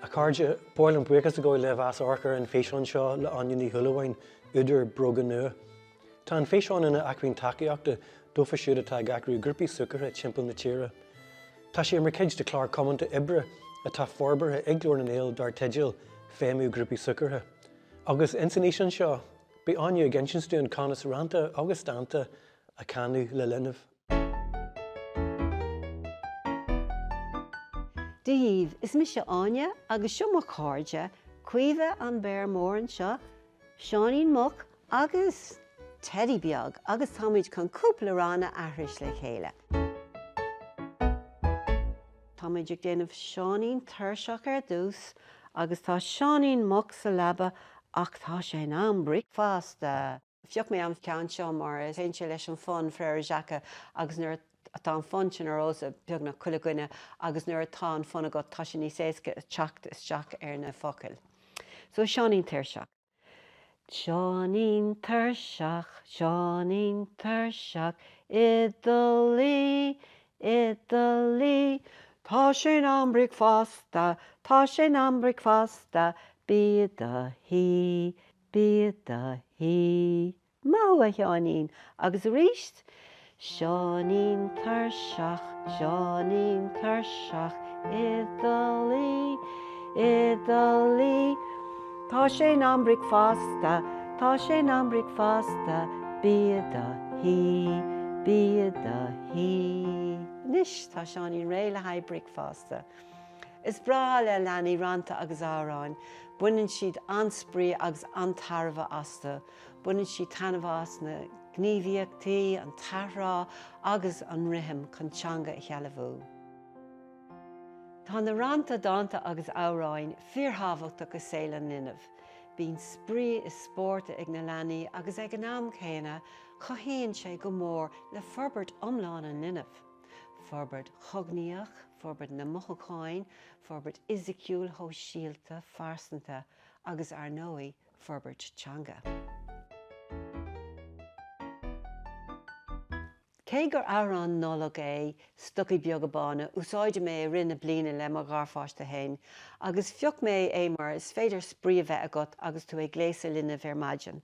A chairde, ba mhaith liom buíochas a ghabháil libh as amharc ar an físeán seo le Áine Ní Shúilleabháin, údar Bróga Nua. Tá an físeán ina acmhainn tacaíochta dófa siúd atá ag eagrú grúpaí súgartha timpeall na tíre. Tá sé mar chuid de chlár comónta oibre atá forbartha ag Glór na nGael dar teideal Feidhmiú Grúpaí Súgartha. Agus ins an fhíseán seo, beidh Áine ag insint dúinn conas rannta agus dánta a chanadh le linbh. Dia dhíbh! Is mise Áine agus seo mo cairde, Caoimhe an béar mór anseo, Seáinín Muc agus Teidí beag agus táimid chun cúpla rann a aithris le chéile. Táimid ag déanamh Seáinín tuirseach ar dtús agus tá Seáinín Muc sa leaba ach tá sé in am bricfeasta! Phioc mé an ceann seo mar téann sé leis an fonn Frère Jacques agus nuair atá an fonn sin ar eolas ag beagnach chuile dhuine agus nuair atá an fonn agat tá sé níos éasca teacht isteach ar na focail. So Seáinín Tuirseach. Seáinín tuirseach, Seáinín tuirseach, i do luí, i do luí, Tá sé in am bricfeasta, tá sé in am bricfeasta, bí i do shuí. Bí i do shuí. Maith thú, a Sheáinín! Agus aríst, Seáinín tuirseach, Seáinín tuirseach, i do luí, i do luí. Tá sé in am bricfeasta, tá sé in am bricfeasta, bí i do shuí, bí i do shuí. Anois, tá Seáinín réidh le haghaidh bricfeasta. Is breá le leanaí rannta agus amhráin. Baineann siad an-spraoi agus an-tairbhe astu. Baineann siad taitneamh as na gníomhaíochtaí, an t-athrá agus an rithim chun teanga a shealbhú. Tá na rannta, dánta agus amhráin fíorthábhachtach i saol an linbh. Bíonn spraoi is spórt ag na leanaí agus ag an am céanna cothaíonn sé go mór le forbairt iomlán an linbh, forbairt chognaíoch, forbairt na mothúcháin, forbairt fhisiciúil, shóisialta, phearsanta agus, ar ndóigh, forbairt teanga. Cé gur amhrán Nollag é 'Stocaí Beaga Bána' úsáidim é i rith na bliana le mo gharpháiste féin agus phioc mé é mar is féidir spraoi a bheith agat agus tú ag gléasadh linbh ar maidin.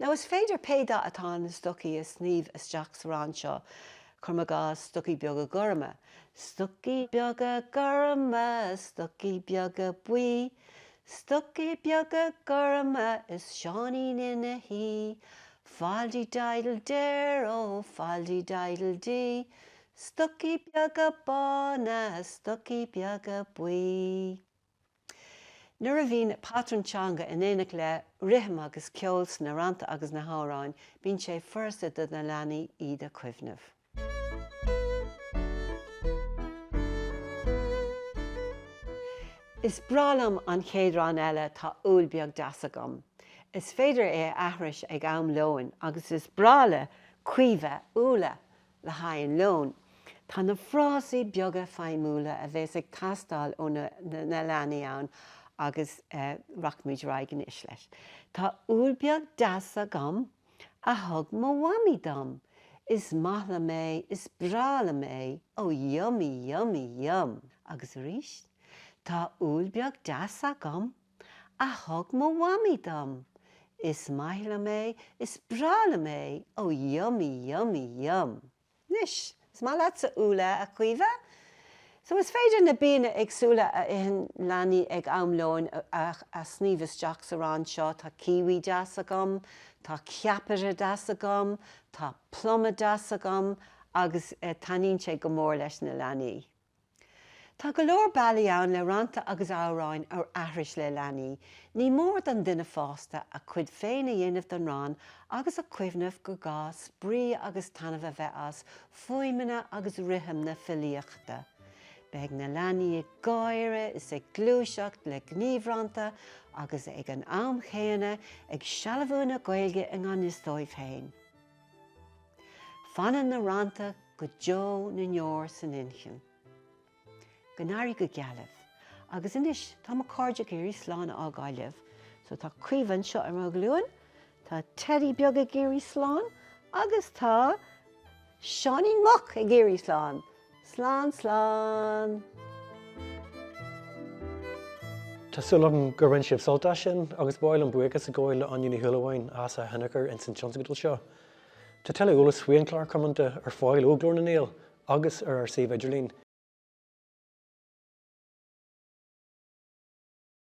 Nó is féidir pé dath atá na stocaí a shníomh isteach sa rann seo, cuir i gcás, stocaí beaga gorma, stocaí beaga gorma, stocaí beaga buí, stocaí beaga gorma is Seáinín ina shuí, fal-de-diddle-der ó, fal-de-diddle-dee, stocaí beaga bána, stocaí beaga buí. Nuair a bhíonn patrún teanga in éineacht le rithim agus ceol sna rannta agus na hamhráin, bíonn sé furasta do na leanaí iad a chuimhneamh. Is breá liom an chéad rann eile, Tá úll beag deas agam. Is féidir é a aithris ag am lóin agus is breá le Caoimhe úlla! le haghaidh an lóin. Tá na frásaí beaga feidhmiúla a bheas ag teastáil ó na leanaí ann agus rachaimid ar aghaidh anois leis. Tá úll beag deas agam a thug mo mhamaí dom. Is maith liom é, is breá liom é, ó yummy, yummy, yum! Agus arís, Tá úll beag deas agam a thug mo mhamaí dom. Is maith liom é, is breá liom é, ó yummy, yummy, yum. Anois, is maith leatsa úlla, a Chaoimhe, so is féidir na bianna éagsúla a itheann leanaí ag am lóin a shníomh isteach sa rann seo, tá kiwi deas agam, tá ceapaire deas agam, tá pluma deas agam, agus taitníonn sé go mór leis na leanaí. Tá go leor bealaí ann le rannta agus amhráin a aithris le leanaí. Ní mór don duine fásta a chuid féin a dhéanamh den rann agus a chuimhneamh gur gá spraoi agus taitneamh a bheith as fuaimeanna agus rithim na filíochta. Beidh na leanaí ag gáire is ag gluaiseacht le gníomhrannta agus ag an am céanna ag sealbhú na Gaeilge i ngan fhios dóibh féin. Fanann na rannta go deo na ndeor san inchinn. Go n-éirí go geal libh. Agus anois, tá mo cairde ag iarraidh slán a fhágáil libh. So, tá Caoimhe anseo ar mo ghlúin, tá Teddy beag ag iarraidh slán, agus tá Seáinín Muc ag iarraidh slán! Slán slán! Tá súil agam gur bhain sibh sult as sin agus ba mhaith liom buíochas a ghabháil le Áine Ní Shúilleabháin as a hinneachar ins an tionscadal seo. Tá tuilleadh eolas faoi An Clár Comónta ar fáil ó Ghlór na nGael agus ar ár suíomh idirlín.